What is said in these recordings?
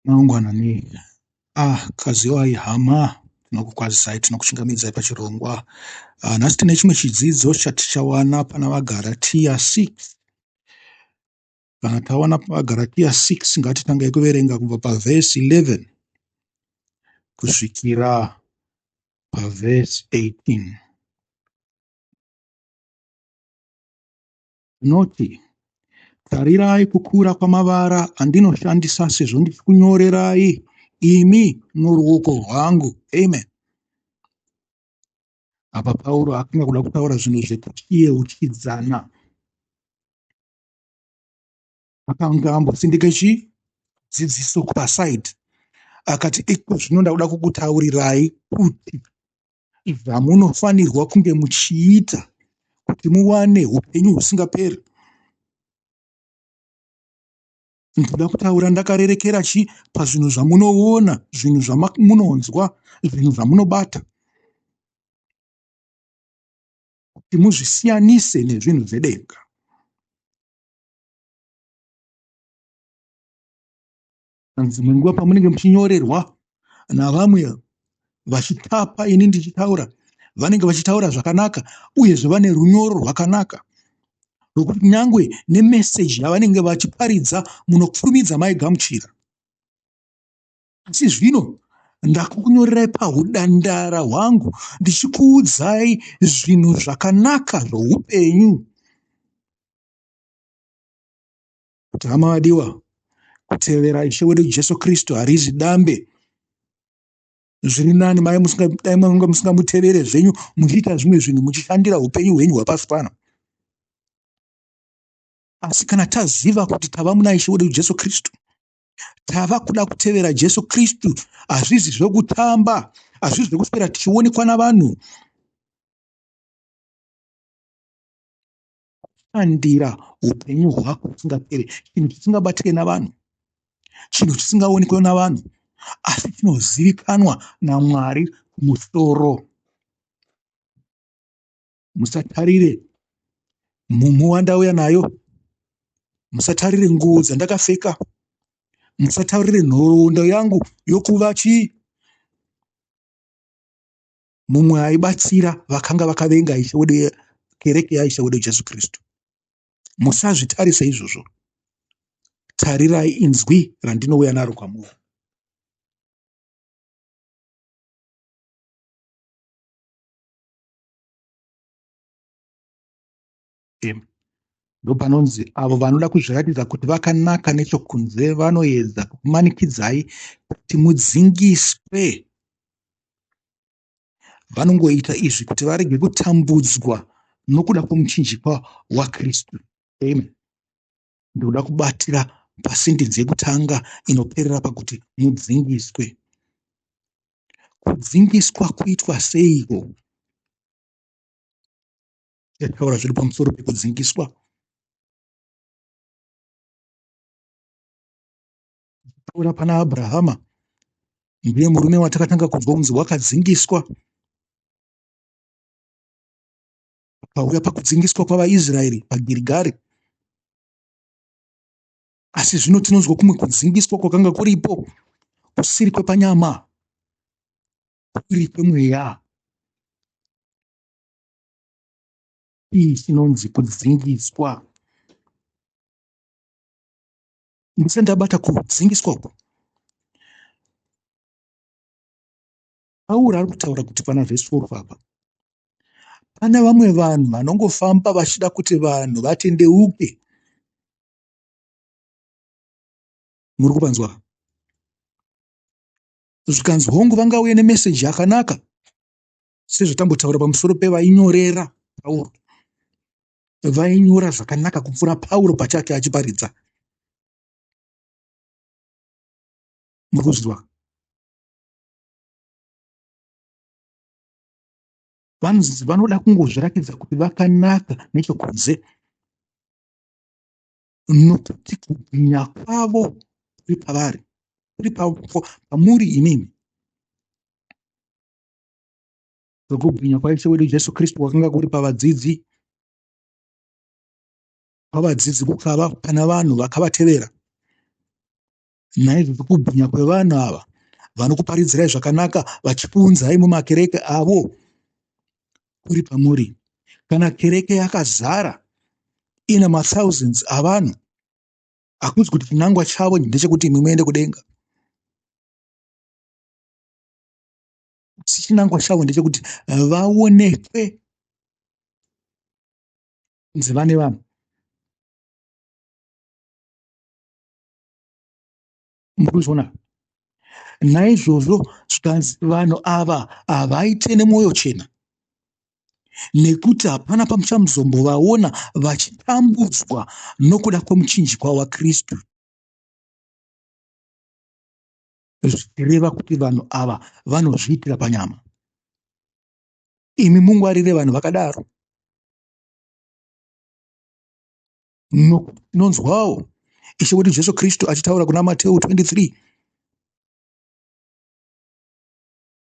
Mangwana nei? Ah, Kaziwai hama, tinokukwazisai, tinokuchingamidzai pachirongwa. Ah, nhasi tine chimwe chidzidzo chatichawana pana vaGaratia 6. Kana tawana vaGaratia 6 ngatitangei kuverenga kubva pavhesi 11 kusvikira pavhesi 18. Anoti, Tarirai kukura kwamavara andinoshandisa sezvo ndichikunyorerai imi noruoko rwangu. Amen. Apa Pauro akanga kuda kutaura zvinhu zvekutiyeuchidzana. Akanga ambosindika chi dzidziso kupasaidi akati iko zvino ndakuda kukutaurirai kuti zvamunofanirwa kunge muchiita kuti muwane upenyu husingaperi ndoda kutaura ndakarerekera chi pazvinhu zvamunoona zvinhu zvamunonzwa zvinhu zvamunobata kuti muzvisiyanise nezvinhu zvedenga dzimwe nguva pamunenge muchinyorerwa navamwe vachitapa ini ndichitaura vanenge vachitaura zvakanaka uyezve vane runyoro rwakanaka rwokuti nyangwe nemeseji yavanenge vachiparidza munokurumidza maigamuchira asi zvino ndakukunyorerai pahudandara hwangu ndichikuudzai zvinhu zvakanaka zvoupenyu kuti hama vadiwa kutevera ishe wedu jesu kristu harizi dambe zviri nani mai dai manga musingamutevere zvenyu muchiita zvimwe zvinhu muchishandira upenyu hwenyu hwapasi pano asi kana taziva kuti tava muna ishe wedu jesu kristu tava kuda kutevera jesu kristu hazvizi zvekutamba hazvizi zvekuswera tichionekwa navanhu kushandira upenyu hwako husingaperi chinhu chisingabatike navanhu chinhu chisingaonekwe navanhu asi chinozivikanwa namwari musoro musatarire mumhu wandauya nayo musatarire nguo dzandakapfeka musatarire nhoroondo yangu yokuva chii mumwe aibatsira vakanga vakavenga ishe wedu kereke yaishe wedu jesu kristu musazvitarise izvozvo tarirai inzwi randinouya naro kwamuri ndopanonzi avo vanoda kuzviratidza kuti vakanaka nechokunze vanoedza kukumanikidzai kuti mudzingiswe vanongoita izvi kuti varege kutambudzwa nokuda kwomuchinjikwa wakristu amen ndikuda kubatira pasentenzi yekutanga inoperera pakuti mudzingiswe kudzingiswa kuitwa seiko Taura zviri pamusoro pekudzingiswa taura pana Abrahama ndiye murume watakatanga kunzwa kunzi wakadzingiswa pauya pakudzingiswa kwavaIsraeri paGirigari asi zvino tinonzwa kumwe kudzingiswa kwakanga kuripo kusiri kwepanyama kuri kwemweya Chii chinonzi kudzingiswa? Ndisati ndabata kudzingiswa uku, Pauro ari kutaura kuti pana vhesi 4 apa pane vamwe vanhu vanongofamba vachida kuti vanhu vatendeuke. Muri kupanzwa? Zvikanzi hongu vangauye nemeseji yakanaka sezvatambotaura pamusoro pevainyorera pauro vainyora zvakanaka kupfuura pauro pachake achiparidza mukuzwa vanonzi vanoda kungozvirakidza kuti vakanaka nechokunze nokuti kubwinya kwavo kuri pavari kuri pamuri imimi zvokubwinya kwaIshe wedu Jesu Kristu kwakanga kuri pavadzidzi pavadzidzi kukava pana vanhu vakavatevera naizvozvo kubwinya kwevanhu ava vanokuparidzirai zvakanaka vachipunzai mumakereke avo kuri pamuri kana kereke yakazara ina mathousands avanhu hakuzi kuti chinangwa chavo ndechekuti imwe muende kudenga asi chinangwa chavo ndechekuti vaonekwe kunzi vane vanhu murikuzviona naizvozvo zvikanzi vanhu ava havaite nemwoyo chena nekuti hapana pamuchamuzombovaona vachitambudzwa nokuda kwemuchinjikwa wakristu zvichireva kuti vanhu ava vanozviitira panyama imi mungwarire vanhu vakadaro nonzwawo no, ishe wedu jesu kristu achitaura kuna mateu 23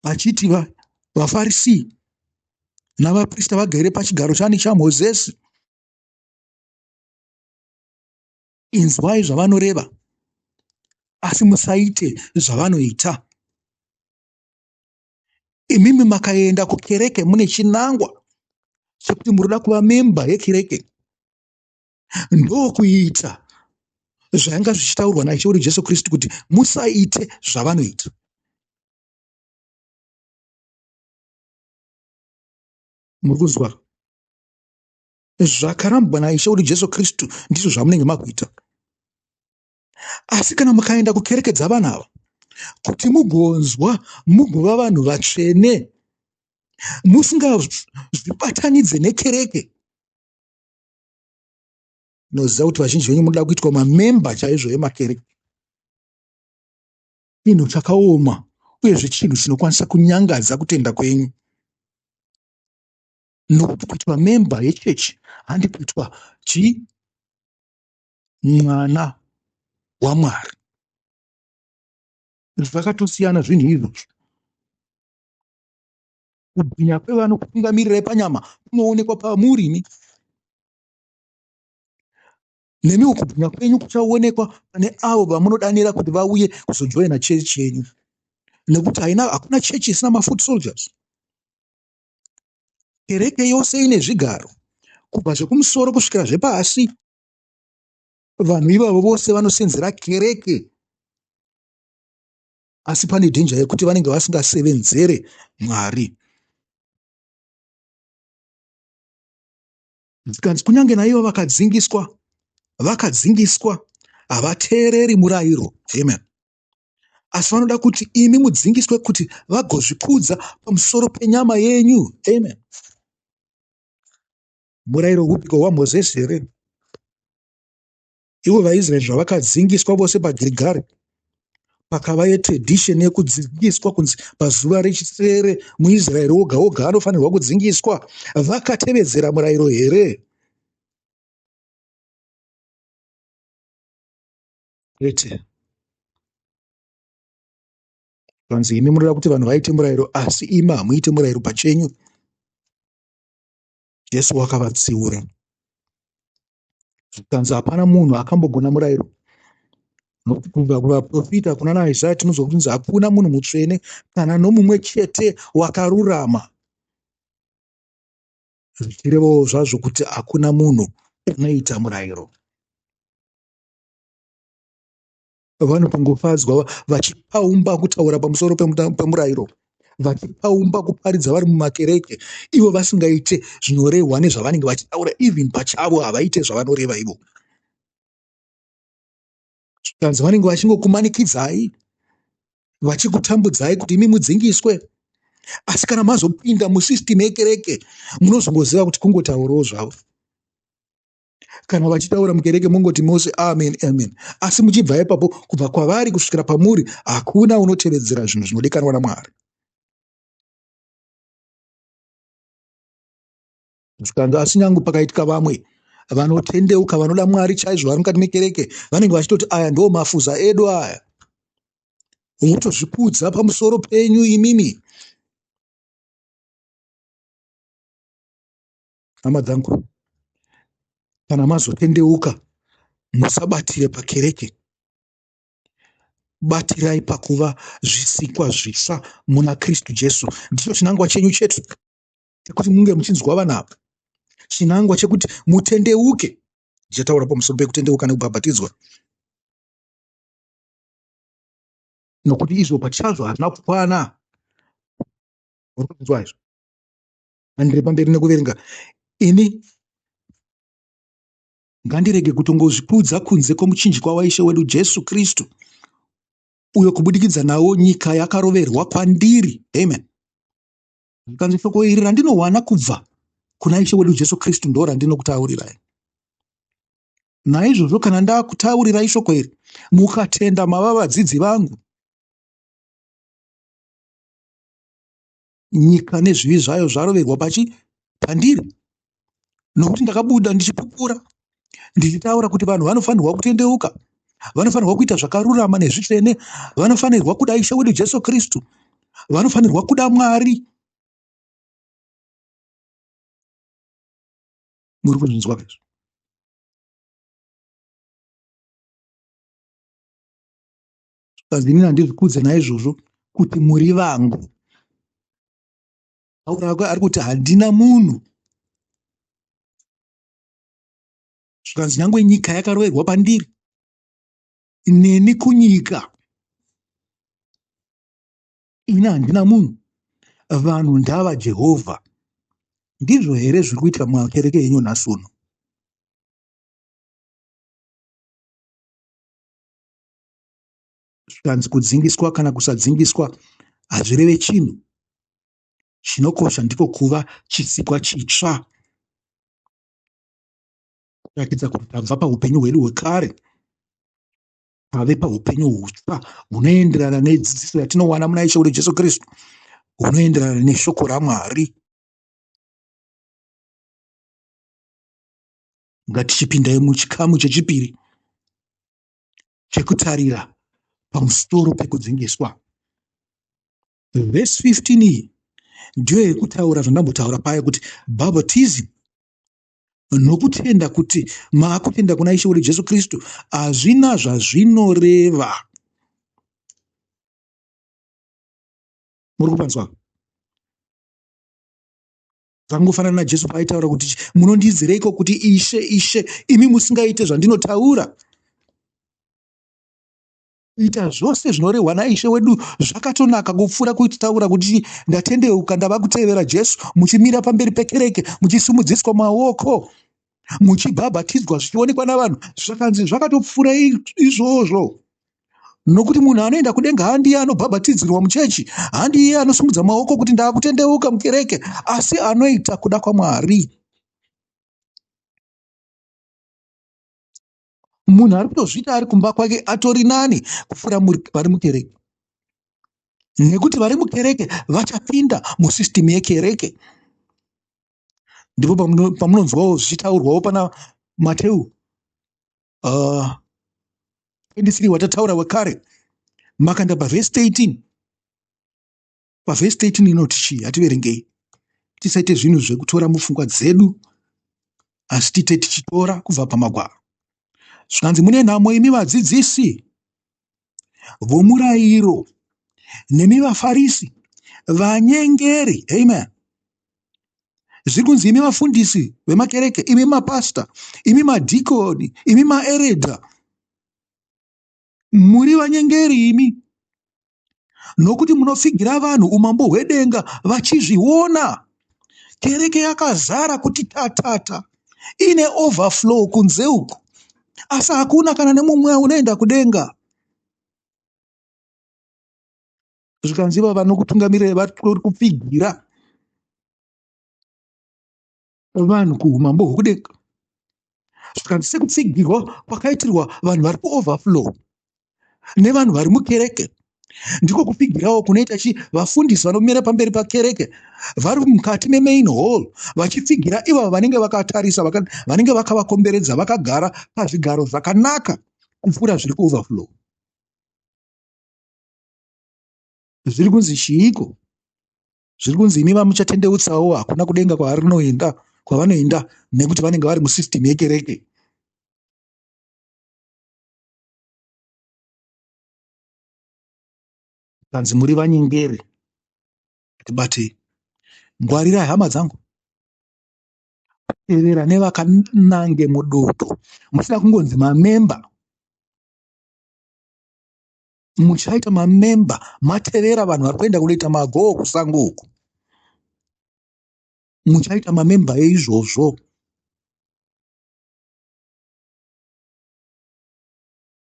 achiti vafarisi navaprista vagere pachigaro chani chamozesi inzwai zvavanoreva asi musaite zvavanoita imimi makaenda kukereke mune chinangwa chekuti muri kuda kuva memba yekereke ndokuita zvainga zvichitaurwa naishe wedu jesu kristu kuti musaite zvavanoita muri kuzwa zvakarambwa naIshe kuti Jesu Kristu ndizvo zvamunenge makuita. Asi kana mukaenda kukereke dzavanhu ava kuti mugonzwa mugova vanhu vatsvene musingazvibatanidze nekereke noziva kuti vazhinji venyu munoda kuitwa mamemba chaizvo emakereke chinhu chakaoma uyezve chinhu chinokwanisa kunyangadza kutenda kwenyu nokuti kuitwa member yechechi handi kuitwa chi mwana wamwari zvakatosiyana zvinhu izvozvo kubwinya kwevano kutungamirirei panyama kunoonekwa pamurini nemiwo kubwinya kwenyu kuchaonekwa pane avo vamunodanira kuti vauye kuzojoina chechi yenyu nekuti haina hakuna chechi isina mafoot soldiers Kereke yose ine zvigaro, kubva zvekumusoro kusvikira zvepasi. Vanhu ivavo vose vanosenzera kereke, asi pane dhenja yekuti vanenge vasingasevenzere Mwari. Zvikanzi kunyange naivo vakadzingiswa, vakadzingiswa, havateereri murayiro. Amen. asi vanoda kuti imi mudzingiswe kuti vagozvikudza pamusoro penyama yenyu amen murayiro hupiko hwamozesi here ivo vaisraeri zvavakadzingiswa vose pagirigari pakava yetradisheni yekudzingiswa kunzi pazuva rechisere muisraeri woga woga anofanirwa kudzingiswa vakatevedzera murayiro here kwete zvanzi imi munoda kuti vanhu vaite murayiro asi imi hamuite murayiro pachenyu jesu wakavatsiura zvikanzi hapana munhu akambogona murayiro nokuti kubva kuvaprofita kuna naisaya tinonzwa kutinzi hakuna munhu mutsvene kana nomumwe chete wakarurama zvichirevawo zvazvo kuti hakuna munhu unoita murayiro vanopangofadzwa vachipaumba kutaura pamusoro pemurayiro vachipaumba kuparidza vari mumakereke ivo vasingaite zvinorehwa nezvavanenge vachitaura even pachavo havaite zvavanoreva ivo zvikanzi vanenge vachingokumanikidzai vachikutambudzai kuti imi mudzingiswe asi kana mazopinda musystem yekereke munozongoziva kuti kungotaurawo zvavo kana vachitaura mukereke mongoti mose amen amen asi muchibva ipapo kubva kwavari kusvikira pamuri hakuna unotevedzera zvinhu zvinodikanwa namwari zvikanzi asi nyangu pakaitika vamwe vanotendeuka vanoda mwari chaizvo vari mukati mekereke vanenge vachitoti aya ndoo mafuza edu aya wotozvikudza pamusoro penyu imimi hama dzangu kana mazotendeuka musabatire pakereke batirai pakuva zvisikwa zvitsva muna kristu jesu ndicho chinangwa chenyu chete chekuti munge muchinzwa vana ava chinangwa chekuti mutendeuke ndichataura pamusoro pekutendeuka nekubhabhatidzwa nokuti izvo pachazvo hazvina kukwana uri kunzwa izvo handiri pamberi nekuverenga ini ngandirege kutongozvikudza kunze kwomuchinjikwa waishe wedu jesu kristu uyo kubudikidza nawo nyika yakaroverwa kwandiri amen zvikanzi shoko iri randinowana kubva kuna ishe wedu jesu kristu ndo randinokutaurirai naizvozvo kana ndakutaurirai shoko iri mukatenda mava vadzidzi vangu nyika nezvivi zvayo zvaroverwa pachi pandiri nokuti ndakabuda ndichipupura ndichitaura kuti vanhu vanofanirwa kutendeuka vanofanirwa kuita zvakarurama nezvitsvene vanofanirwa kuda ishe wedu jesu kristu vanofanirwa kuda mwari muri kuzvinzwa izvo zvikanzi inini handizvikudze naizvozvo kuti muri vangu ari kuti handina munhu zvikanzi nyangwe nyika yakaroverwa pandiri neni kunyika ini handina munhu vanhu ndava jehovha ndizvo here zviri kuitika mumakereke yenyu nhasi uno zvikanzi kudzingiswa kana kusadzingiswa hazvireve chinhu chinokosha ndiko kuva chisikwa chitsva kuratidza kuti tabva paupenyu hwedu hwekare tave paupenyu hutsva hunoenderana nedzidziso yatinowana muna ishe wedu jesu kristu hunoenderana neshoko ramwari ngatichipindai muchikamu chechipiri chekutarira pamusoro pekudzingiswa. Vhesi 15 iyi ndiyo yekutaura zvandambotaura paye kuti bhabhatizimu nokutenda kuti maakutenda kuna ishe wedu jesu kristu hazvina zvazvinoreva muri kupanzwa Zvakangofanana naJesu paaitaura kuti, Munondiizireiko kuti Ishe, Ishe, imi musingaite zvandinotaura? Kuita zvose zvinorehwa naIshe wedu zvakatonaka kupfuura kutaura kuti ndatendeuka ndava kutevera Jesu, muchimira pamberi pekereke muchisimudziswa maoko. muchibhabhatidzwa zvichionekwa navanhu zvakanzi zvakatopfuura izvozvo nokuti munhu anoenda kudenga handiye anobhabhatidzirwa muchechi handiye anosimudza maoko kuti ndaakutendeuka mukereke asi anoita kuda kwamwari munhu ari kutozviita ari kumba kwake atori nani kupfuura vari mukereke nekuti vari mukereke vachapinda musystem yekereke ndipo pamunonzwawo zvichitaurwawo pana mateu uh, ah, 23 watataura wekare makanda pavhesi 13 pavhesi 13 inoti chii hativerengei tisaite zvinhu zvekutora mupfungwa dzedu asi tiite tichitora kubva pamagwaro zvikanzi mune nhamo imi vadzidzisi vomurairo nemi vafarisi vanyengeri amen zviri kunzi imi vafundisi vemakereke imi mapasta imi madhikoni imi maeredha muri vanyengeri imi nokuti munopfigira vanhu umambo hwedenga vachizviona Kereke yakazara kuti tatata ine overflow kunze uku asi hakuna kana nemumwe unoenda kudenga zvikanzi iva vanokutungamirai vari kupfigira vanhu kuumambo hwekudenga zvikanzi sekutsigirwa kwakaitirwa vanhu vari kuoverflow nevanhu vari mukereke ndiko kupfigirawo kunoita chi vafundisi vanomira pamberi pakereke vari mukati memain hall vachipfigira ivavo vanenge vakatarisa vanenge vakavakomberedza vakagara pazvigaro zvakanaka kupfuura zviri kuoverflow zviri kunzi chiiko zviri kunzi imi vamuchatendeutsawo hakuna kudenga kwarinoenda kwavanoenda nekuti vanenge vari musystem yekereke kanzi muri vanyengeri but ngwarirai hama dzangu tevera nevakanange mudoto musina kungonzi mamemba muchaita mamemba matevera vanhu vari kuenda kunoita magoo kusango uku muchaita mamemba eizvozvo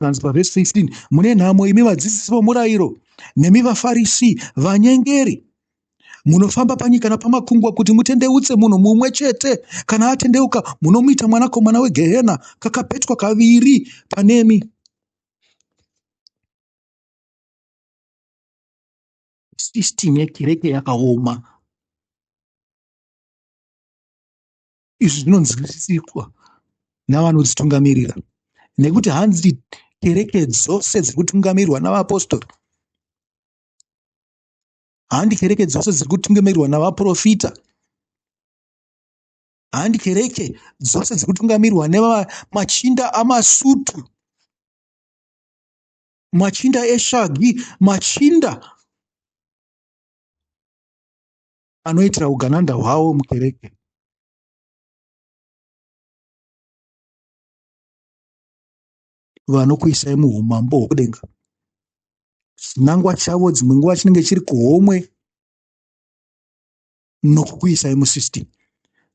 kanzi pavhesi 15 mune nhamo imi vadzidzisi vomurayiro nemi vafarisi vanyengeri munofamba panyika napamakungwa kuti mutendeutse munhu mumwe chete kana atendeuka munomuita mwanakomana wegehena kakapetwa kaviri panemi system yekereke yakaoma izvi zvinonzwisiswa navanodzitungamirira nekuti hanzi kereke dzose dziri kutungamirwa navaapostori handi kereke dzose dziri kutungamirwa navaprofita handi kereke dzose dziri kutungamirwa nemachinda amasutu machinda eshagi machinda anoitira ugananda hwawo mukereke vanokuisai muumambo hwokudenga chinangwa chavo dzimwe nguva chinenge chiri kuhomwe nokukuisai musystem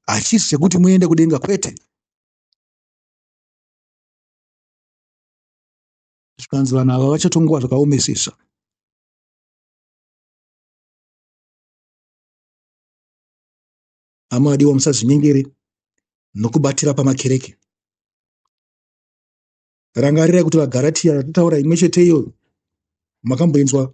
hachisi chekuti muende kudenga kwete zvikanzi vanhu ava vachatongowa zvakaomesesa hama vadiwa musazinyengere nokubatira pamakereke rangarirai kuti vagaratiya yatataura imwe chete iyoyo makamboinzwa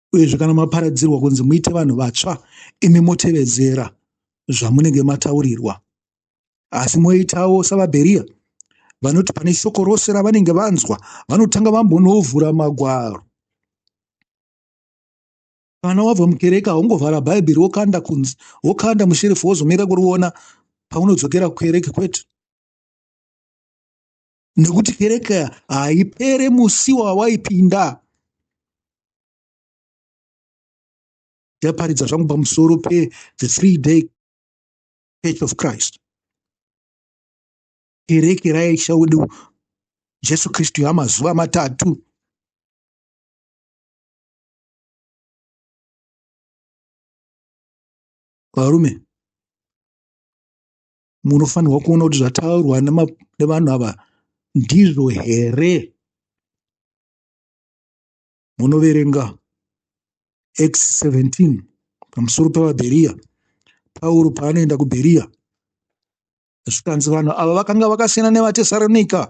Uyezve kana maparadzirwa kunzi muite vanhu vatsva, imi motevedzera zvamunenge mataurirwa. Asi moitawo savaBheriya, vanoti pane shoko rose ravanenge vanzwa, vanotanga vambonovhura magwaro. Kana wabva mukereke, haungovhara Bhaibheri wokanda kunzi, wokanda musherifu wozomira kuriona paunodzokera kukereke, kwete. nekuti kereke haipere musi wawaipinda ndaparidza zvangu pamusoro pe the three day church of christ kereke raisha wedu jesu kristu yamazuva matatu varume munofanirwa kuona kuti zvataurwa nevanhu ava ndizvo here munoverenga x 17 pamusoro pevabheriya pauro paanoenda kubheriya zvikanzi vanhu ava vakanga vakasiyana nevatesaronika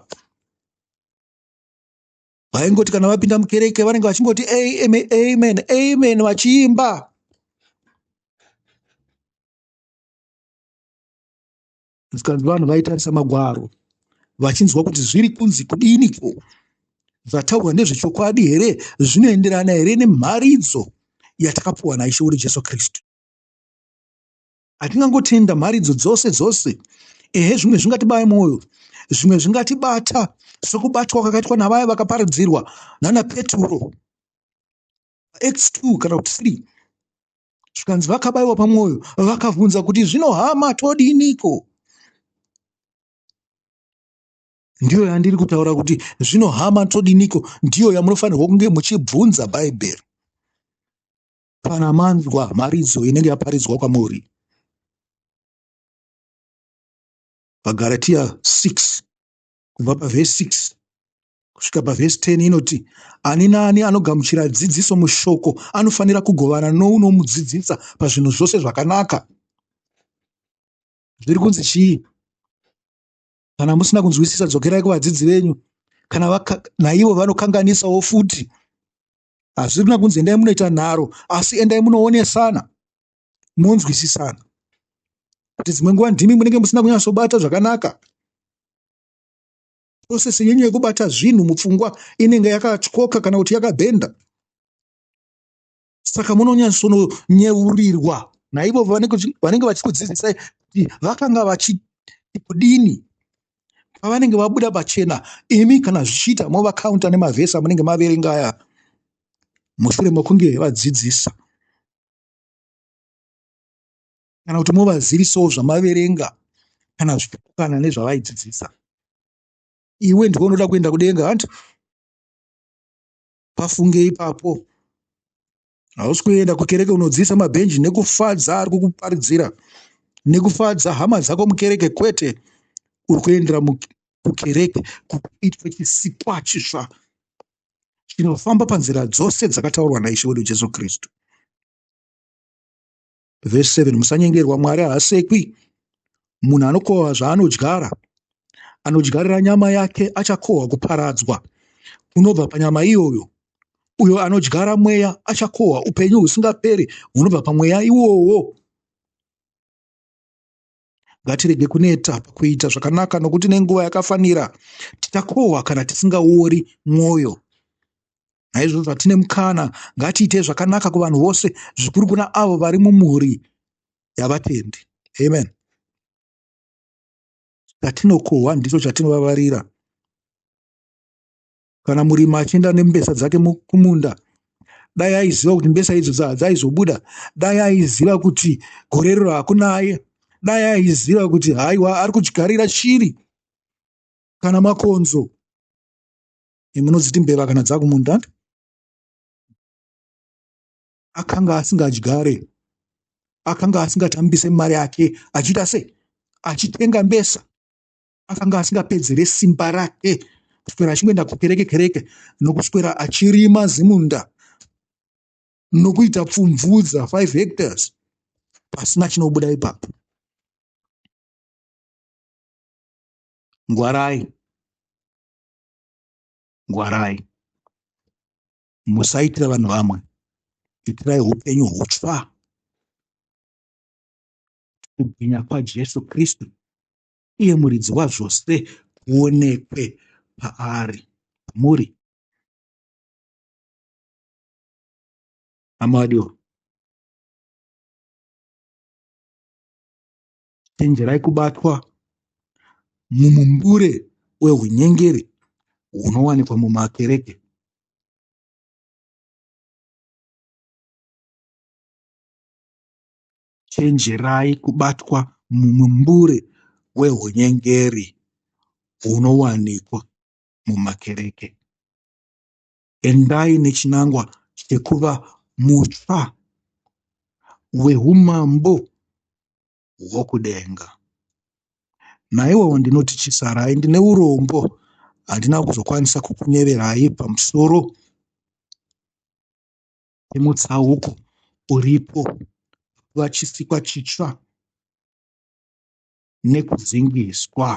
vaingoti kana vapinda mukereke vanenge vachingoti amen amen amen vachiimba zvikanzi vanhu vaitarisa magwaro vachinzwa kuti zviri kunzi kudiniko zvataurwa ndezvechokwadi here zvinoenderana here nemharidzo yatakapuwa naishe wedu jesu kristu hatingangotenda mharidzo dzose dzose ehe zvimwe zvingatibaya mwoyo zvimwe zvingatibata sokubatwa kwakaitwa navaya vakaparidzirwa nana peturo Acts 2 kana kuti 3 zvikanzi vakabaiwa pamwoyo vakabvunza kuti zvino hama todiniko ndiyo yandiri kutaura kuti zvino hama todiniko ndiyo yamunofanirwa kunge muchibvunza bhaibheri kana manzwa mharidzo inenge yaparidzwa kwamuri vagaratiya 6 kubva pavhesi 6 kusvika pavhesi 10 inoti ani naani anogamuchira dzidziso mushoko anofanira kugovana nounomudzidzisa pazvinhu zvose zvakanaka zviri kunzi chii kana musina kunzwisisa dzokerai kuvadzidzi venyu kana naivo vanokanganisawo futi hazvirina kunzi endai munoita nharo asi endai munoonesana monzwisisana kuti dzimwe nguva ndimi munenge musina kunyatsobata zvakanaka process yenyu yekubata zvinhu mupfungwa inenge yakatyoka kana kuti yakabhenda saka munonyatsononyeurirwa naivo vanenge vachikudzidzisai kuti vakanga vachikudini pavanenge vabuda pachena imi kana zvichiita movakaunta nemavhesi amunenge maverenga aya mushure mokunge vadzidzisa kana kuti movazivisawo zvamaverenga kana zvichipokana nezvavaidzidzisa iwe ndiwe unoda kuenda kudenga hanti pafunge ipapo Hausi kuenda kukereke unodziisa mabhenji nekufadza ari kukuparidzira nekufadza hama dzako mukereke kwete uri kuendera kukereke kuitwa chisikwa chisva chinofamba panzira dzose dzakataurwa naishe wedu jesu kristu Vhesi 7 Musanyengerwa, Mwari haasekwi. Munhu anokohwa zvaanodyara. Anodyarira nyama yake achakohwa kuparadzwa kunobva panyama iyoyo. Uyo anodyara mweya achakohwa upenyu husingaperi hunobva pamweya iwowo. Ngatirege kuneta pakuita zvakanaka nokuti nenguva yakafanira tichakohwa kana tisingaori mwoyo. Naizvozvo hatine mukana, ngatiitei zvakanaka kuvanhu vose, zvikuru kuna avo vari mumhuri yavatendi. Amen. Chatinokohwa ndicho chatinovavarira. kana murimi achienda nembesa dzake kumunda dai aiziva kuti mbesa idzo dzaizobuda dai aiziva kuti gore riro hakuna aye dai aiziva kuti haiwa ari kudyigarira shiri kana makonzo imunodziti mbeva kana dzakumunda akanga asingadyare akanga asingatambise mari yake achiita se achitenga mbesa akanga asingapedzere simba rake kuswera achingoenda kukereke kereke nokuswera achirima zimunda nokuita pfumvudza 5 hectares pasina chinobuda ipapo ngwarai ngwarai musaitira vanhu vamwe itirai upenyu hutsva kubwinya kwajesu kristu uye muridzi wazvose kuonekwe paari. Muri. Hama wadiwa. Chenjerai kubatwa mumumbure wehunyengeri hunowanikwa mumakereke. Chenjerai kubatwa mumumbure wehunyengeri hunowanikwa mumakereke. Endai nechinangwa chekuva mutsva weumambo hwokudenga. Naiwowo ndinoti chisarai, ndine urombo, handina kuzokwanisa kukunyeverai pamusoro nemutsauko uripo vachisikwa chitsva nekudzingiswa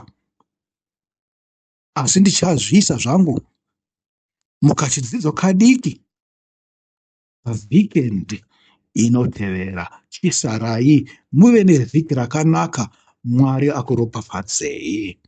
asi ndichazviisa zvangu mukachidzidzo kadiki vhikendi inotevera chisarai muve nevhiki rakanaka mwari akuropafadzei